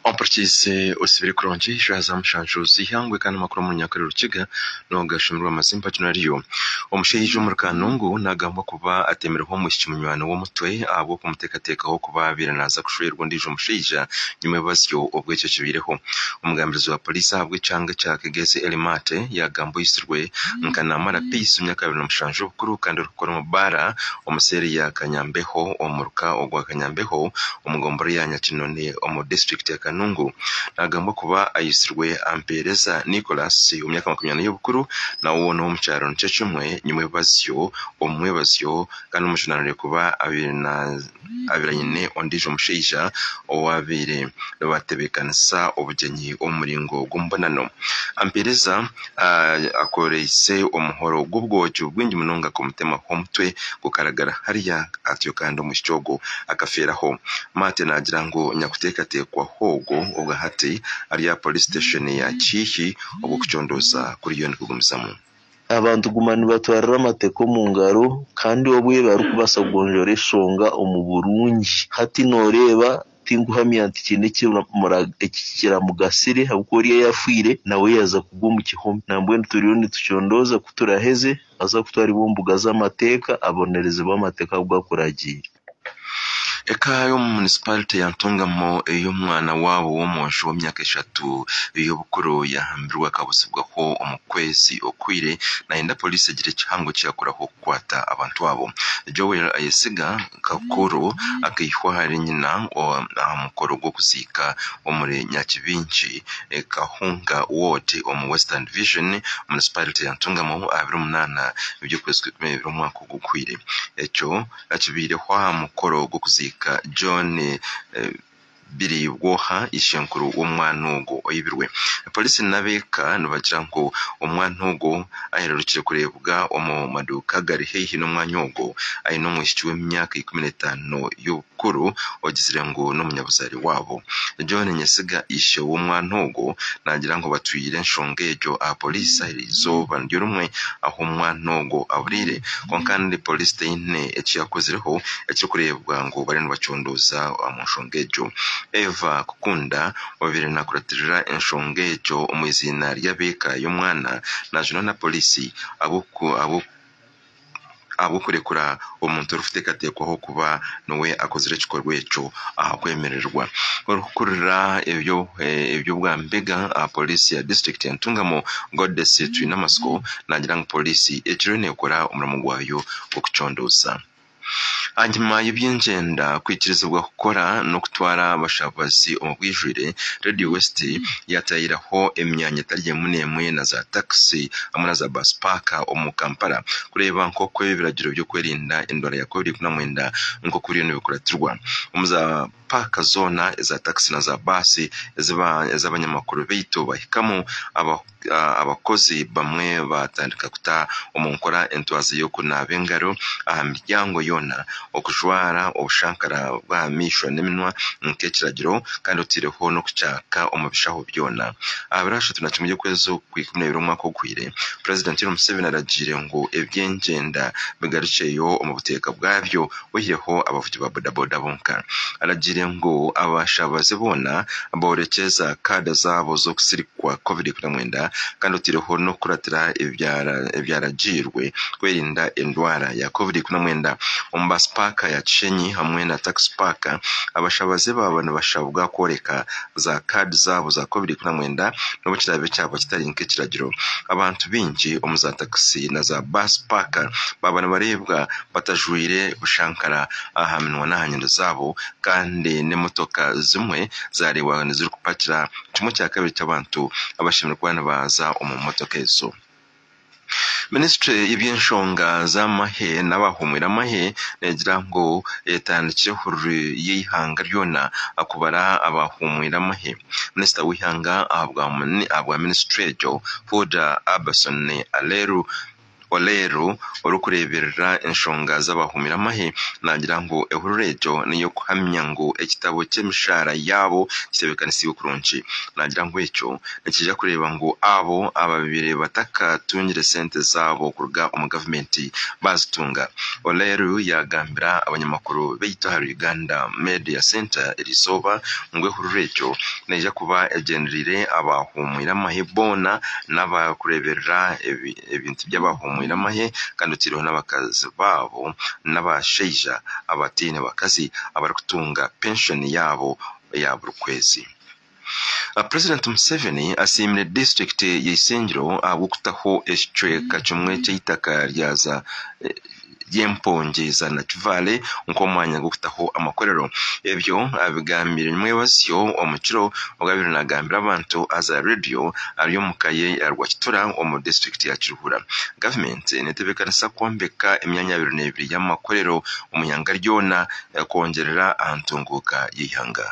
Ompurikiirize osibire kurungi shaaha za mushanju z'eihangwe kandi amakuru omu runyankore Rukiga noogashuumirwa amazimba ginu ariyo, Omushaija omuri Kanungu naagambwa kuba ateemireho omwishiki munywani we omutwe ahabw'okumuteekateekaho kuba abaire naaza kushwerwa ondiijo mushaija nyima y'obubazyo obu ekyo kibaireho. Omugambirizi wa poriisi ahabw'ekyanga ekya Kegezi Elly Maate yaagambwa oyizirwe nka Naamara Peace w'emyaka abiri na mushanju y'obukuru kandi orikukora omu baara, omu seeri ya Kanyambeho omu muruka ogwa Kanyambeho omu gombora ya Nyakinoni omu disiturikiti ya Kanungu nagambwa kuba ayitsirwe Ampeereza Nicholas w'emyaka makumi ana y'obukuru nawe woona ow'omu kyaro nikyo kimwe nyimwebazyo omu mwebazyo kandi omujunanire kuba abaire aine ondiijo mushaija owaabaire nibatebeekanisa obugyenyi omu muringo gw'omubonano. Ampeereza. akoreise omuhoro gw'obwoki bwingi munonga kumutema omutwe gukaragara hariya atyo kandi omwishiki ogwo akafeeraho. Maate naagira ngu nyakuteekateekwaho ogwo obwa hati ari aha Poliisi siteeshoni ya Kiihi obu okucondooza kuriyo nikugumizamu. Abantu guma nibatwarira amateeka omu ngaro kandi obwe barikubaasa kugonjoora eshonga omu burungi. Hati nooreeba Tinkuhamya nti kiine eki kiramugasire, ahabw'okuba oriya yaafiire, nawe yaaza kugwa omu kihome. Nambwenu turiyo nitucondooza ku turaheze aza kutwaribwa omu mbuga z'amateeka, abonerezibwe amateeka agu gakuragiire. Eka y'omu munisipaarite ya Ntungamo ei omwana waabo w'omwojo w'emyaka eshatu ey'obukuru yaahambirwe akabutsibwaho omu kwezi okuhweire, naayenda poliisi egire ekihango eki yakoraho. kukwata abantu abo. Joel ayesiga Kakuru akaihwa ahari nyina aha mukoro gw'okuziika omuri Nyakibingi, Kahunga Ward omu Western Division, Municipality ya Ntungamo aha biro munaana eby'okwezi kwa ikumi na ibiri omwaka ogu guhweire. Ekyo akibaireho aha mukoro gw'okuziika John. biraibwa oha ishenkuru w'omwana ogwo oibirwe. Polisi n'abeeka nibagira ngu omwana ogwo ahererukire kureebwa omu maduuka agari haihi n'omwanya ogwo aine omwishiki w'emyaka ikumi n'etaano y'obukuru ogizire ngu n'omunyabuzaare waabo. John Nyesiga ishe w'omwana ogwo naagira ngu batwire enshonga egyo aha polisi aha izooba niryo rimwe ahu omwana ogwo aburiire kwonka kandi polisi teine eki yaakozireho ekirikureebwa ngu bariyo nibacuundirwa. kukukunduuza omu nshonga egyo. Eva kukunda obaire naakuratirira enshonga egyo omu iziina ry'ab'eka y'omwana naajunwa na Poliisi ahabw'okurekura omuntu orikuteekateekwaho kuba niwe akozire ekikorwa ekyo ahakwemererwa. Orikukurira eby'obwa mbega aha Poliisi ya disiturikiti ya Ntungamo, Godes Twinamatsiko naagira ngu Poliisi egiriyo neekora omurimo gwayo gw'okucondoza. Ahanyima y'eby'engyenda kwikirizibwa kukora n'okutwara abashabazi omu bwijwire, Radio West yatayiraho emyanya etari emwe n'emwe na za takisi hamwe na za baasi paaka omu Kampala kureeba nk'oku ebiragiro by'okwerinda endwara ya covid ikumi na mwenda nk'oku biriyo nibikuratirwa omu za paaka zoona eza takisi na za baasi ezi abanyamakuru baitu bahikamu. abakozi bamwe baatandika kuta omu nkora entwaza y'okunaaba engaro aha miryango yoona, okujwara obushankara bw'aha maisho n'eminwa nk'ekiragiro, kandi otaireho n'okukyaka omu bishaho byona. Aha biro ashatu na kimwe by'okwezi okwa ikumi na ibiri omwaka oguhwire, Purezidenti Yoweri Museveni aragiire ngu eby'engyenda bigarukyeyo omu buteeka bwabyo oyireho abavugi ba bodaboda bonka. Aragiire ngu abashaabaze boona boorekye za kaada zaabo z'okusirikwa covid ikumi na mwenda kandi oteireho n'okukuratira ebyaragiirwe kwerinda endwara ya covid ikumi na mwenda. Omu baasi paaka ya Kishenyi hamwe na takisi paaka, abashaabaze baaba nibashabwa kworeka za kaadi zaabo za covid ikumi na mwenda n'obu kiraabe kyaba kitari nk'ekiragiro. Abantu baingi omu za takisi na za baasi paaka baaba nibareebwa batajwaire bushankara aha minwa n'aha nyindo zaabo kandi n'emotoka zimwe zaareebwaga nizirikupakira kimwe kya kabiri ky'abantu abashemereire kuba nibaaza omu motoka ezo. Minisitule y'eby'enshonga z'amahe n'abaahuumwire amahe neegira ngu etandikire ehururu y'eihanga ryona kubara abaahuumwire amahe. Minisita w'eihanga aha bwa minisitule egyo Huda Abbason Aleru, Oleero orikureeberera enshonga z'abahuumire amahe naagira ngu ehurura egyo n'ey'okuhamya ngu ekitabo ky'emishaara yaabo kitebeekanisiibwe kurungi. Naagira ngu ekyo nikiija kureeba ngu abo abaabaire batakatungire sente zaabo kuruga omu gavumenti baazitunga. Oleero yaagambira abanyamakuru baitu aha Uganda Media Centre erizooba ngu ehurura egyo neija kuba egyendereire abaahuumwire amahe boona n'abarikureeberera ebi ebintu by'abaahomoire amahe kandi otaireho n'abakazi baabo n'abashaija abataine bakazi abarikutunga penshoni yaabo eya buri kwezi. Purezidenti Museveni asiimire disiturikiti ya Isingiro ahabw'okutaho ekicweka kimwe ky'eitaka rya za ry'empungi za Nakivale nk'omwanya gw'okutaho amakorero. Ebyo abigambire Mwebazyo omu kiro obu abaire nagambira abantu aha za rediyo ari omu ka ye ya Rwakitura omu disiturikiti ya Kiruhura. Gavumenti netebekanisa kwombeka emyanya abiri n'ebiri y'amakorero omu ihanga ryona kwongyerera aha ntunguuka y'eihanga.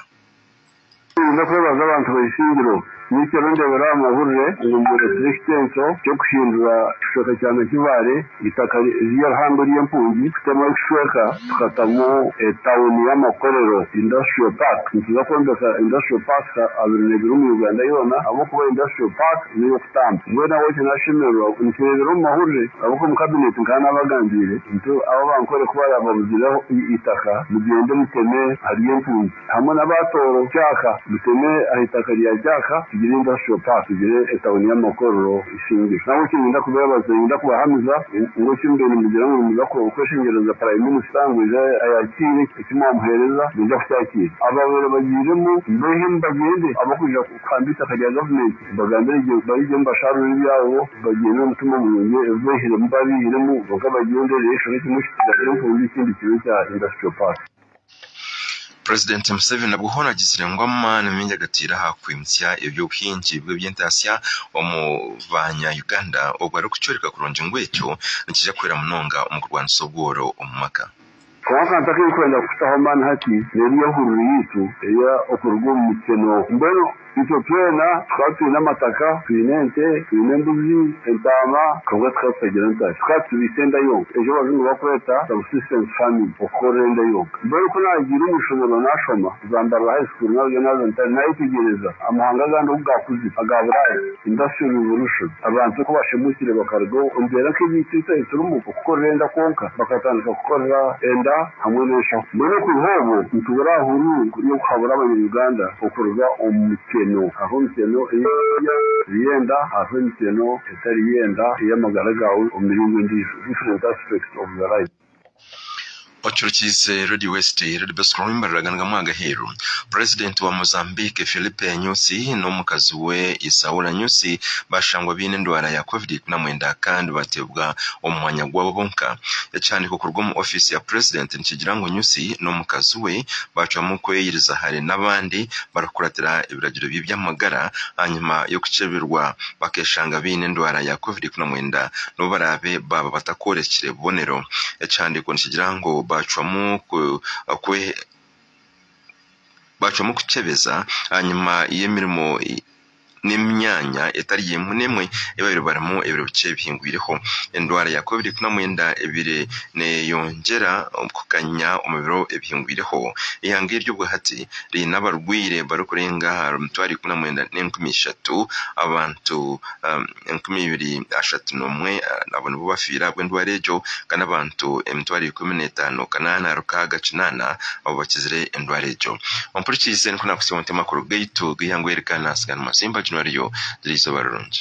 Ninza kwebaza abantu ba Isingiro. Buri kiro ndeebera aha mahurire ngu mworekire ekiteenso ky'okuhindura ekicweka kya Nakivaare, eitaka ry'eihambe ry'empungi, kutema ekicweka tukatamu etauni y'amakorero, Industrial Park. Nituza kwombeka Industrial Parks abiri n'ebiri omu Uganda yoona ahabw'okuba Industrial Park n'ey'okutamba. Mbwenu ahabw'ekyo naashemererwa nikireebera omu mahurire ahabw'okuba omu Kabineeti nkaba naabagambiire nti abo abankore ku baaraababuzireho eitaka, mugyende muteme ahari empungi. Hamwe n'abaatooro Jaaka, Muteme aha itaka rya Jaaka, tugire Industrial Park, tugire etauni y'amakorero Isingiro. Nabwo eki niinyenda kubeebaza, niinyenda kubahamiza ngu eki mubyaire nimugira ngu nimuza kweshengyereza Prime Minister ngu aije ayakiire eki mwamuheereza, naija kukyakiira. Abaabaire bagiiremu mbeihe ngu bagyende, ab'okwija kuhamba eitaka rya Gavumenti mbagambire gye barigyemu bashaarure ebyabo, bagyende n'omutima murungi, ebi beihiremu baabiihiremu, kwonka bagyende reero eishokye kimwe kikiragire empundu ekindi kibe kya Industrial Park. Purezidenti Museveni nabwo hoona agizire ngu amaani maingi agataire aha kwimutsya eby'obuhingi bw'eby'entaatsya omu baanya Uganda obu arikukyoreka kurungi ngu ekyo nikiija kuhwera munonga omu kurwanisa obworo omu maka. Kwonka akantu aku ndikwenda kutaho amaani hati n'eri y'ehururu yaitu eya Okuruga omu Mikye n'oku. Mbwenu Itwe twena tukaba twine amataka, twine ente, twine embuzi, entaama, kwonka tukaba tutagira ntare. Tukaba tubiitse enda yonka, egi abazungu bakweta subsistence farming, okukorera enda yonka. Mbwenu ku naagiire omu ishomero naashoma, kuza Mbarara High School naarugayo naaza Ntare, naayetegyereza amahanga agandi oku gaakuzire, aga Buraaya, Industrial Revolution, abantu oku baashemuukire bakaruga omu mbeera nk'egi ei itwe turimu, okukorera enda kwonka, bakatandika kukorera enda. hamwe n'enshaho. Mbwenu okuruha obwo nituburira aha hururu y'okuhabura abanya-Uganda okuruga omu mityeno. Hariho emityeno ey'eby'okurya, eby'enda, hariho emityeno etari y'enda ey'amagara gaawe omu miringo endiijo, different aspects of your life. Ocurukiize Radio West, Radio Bosco Ruhumuriza, Ganagamu agaheeru. Purezidenti wa Mozambique, Filipe Nyusi n'omukazi we Isaura Nyusi bashangwa baine endwara ya Covid ikumi na mwenda kandi bateebwa omu mwanya gwabo bonka. Ekihandiiko kuruga omu ofiisi ya Purezidenti nikigira ngu Nyusi n'omukazi we baacwamu kweyiriza hare n'abandi barikukuratira ebiragiro by'eby'amagara ahanyima y'okukyebirwa bakeeshanga baine endwara ya Covid ikumi na mwenda n'obu baraabe baaba batakworekire bubonero. Ekihandiiko nikigira ngu baacwamu kwe bacwamu kukyebeza ahanyima y'emirimo n'emyanya etari emwe n'emwe ei baabaire barimu ebiro bikye bihingwireho. Endwara ya covid kumi na mwenda ebaire neeyongyera kukanya omu biro ebihingwireho, eihanga eri obwahati riine abarwaire barikurenga aha mitwaro ikumi na mwenda n'enkumi ishatu, abantu enkumi ibiri ashatu n'omwe abo nibo bafiire ahabw'endwara egyo kandi abantu emitwaro ikumi n'etaano kanaana rukaaga kinaana abo bakizire endwara egyo ompurikiize nikwo naakusiiba nti amakuru gaitu g'eihangwe eri gaanaatsigara mazimba gino ariyo gira eizooba rirungi